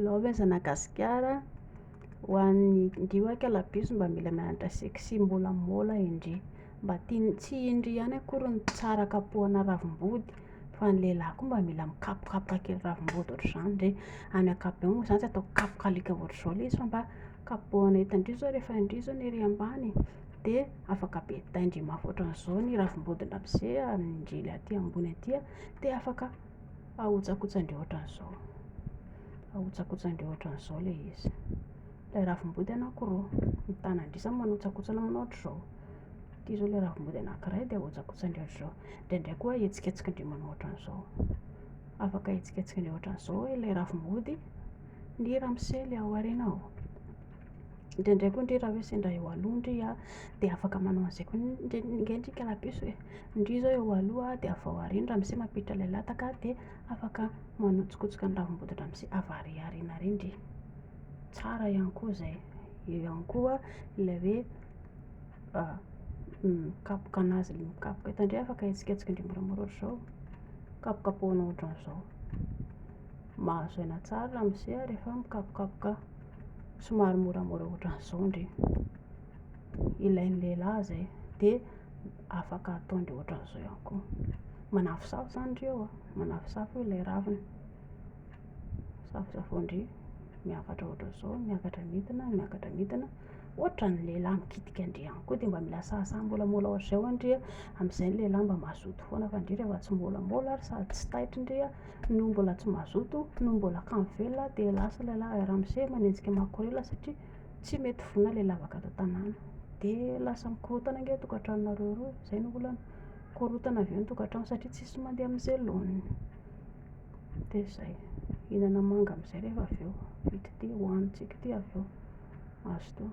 Love aza na gasikara ho an'ny ndry oa ka labus mba mila mianatra sexy mbola mbola indry mba tiany tsy indry ihany akory ny tsara kapohana ravim-body fa ny lehilahy koa mba mila mikapokapoka kely ravim-body ohatr'izany ndry any ankapobeny moa zany tsy atao kapoka alika ohatr'izao le izy fa mba kapohana eto indry zao rehefa indry zao ny ery ambany de afaka be tay ndry mafy ohatran'izao ny ravim-body ndramizey ary ndry le aty ambony aty de afaka Ahotsakotsandreo ohatran'izao. Ahotsakotsandreo ohatran'izao ilay izy. Ilay ravim-body anankiroa mitana an-dry zany manotsakotsana aminao ohatr'izao. Ity izao ilay ravim-body anankiray dia ahotsakotsandreo ohatr'izao. Indraindray koa ahetsiketsikindreo manao ohatran'izao. Afaka ahetsiketsikindreo ohatran'izao ilay ravim-body ny ramose ilay ao aorianao. Indraindray koa ndry raha hoe sendra eo aloha ndry a de afaka manao an'izay koa ndry nge ndry kalabiso e, ndry zao eo aloha de avy ao aoriana ramose mampiditra ilay lataka de afaka manotsokotsoka ny ravimboto dramose avy ary aoriana ary ndry, tsara ihany koa zay, eo ihany koa ilay hoe mikapoka an'azy le mikapoka, eto ndry afaka ahetsiketsika ndry moramora ohatr'izao, kapokapohina ohatran'izao, mahazo aina tsara ramose rehefa mikapokapoka. somary moramora ohatran'izao ndry ilain'ny lehilahy izay dia afaka ataondry ohatran'izao ihany koa manafosafo izany ndry eo a manafosafo eo ilay ravina safosafoin-dry miakatra ohatran'izao miakatra midina miakatra midina ohatran'ny lehilahy mikitika an-dry ihany koa dia mba mila sahasaha molamola ohatr'izay ho'a ndry a, amin'izay ny lehilahy mba mazoto foana fa ndry rehefa tsy molamola ary sady tsy taitra ndry a no mbola tsy mazoto, no mbola kamo velona dia lasa ilay lahy ramose manenjika makorela satria tsy mety vonona ilay lavaka ato an-tanàna. Dia lasa mikorontana ange ny tokantranonareo roa e, izay no olana, mikorontana avy eo ny tokantrano satria tsisy mandeha amin'izay laoniny. Dia izay, hihinana manga amin'izay rehefa avy eo, vita ity, hohanintsika ity avy eo, mazotoa.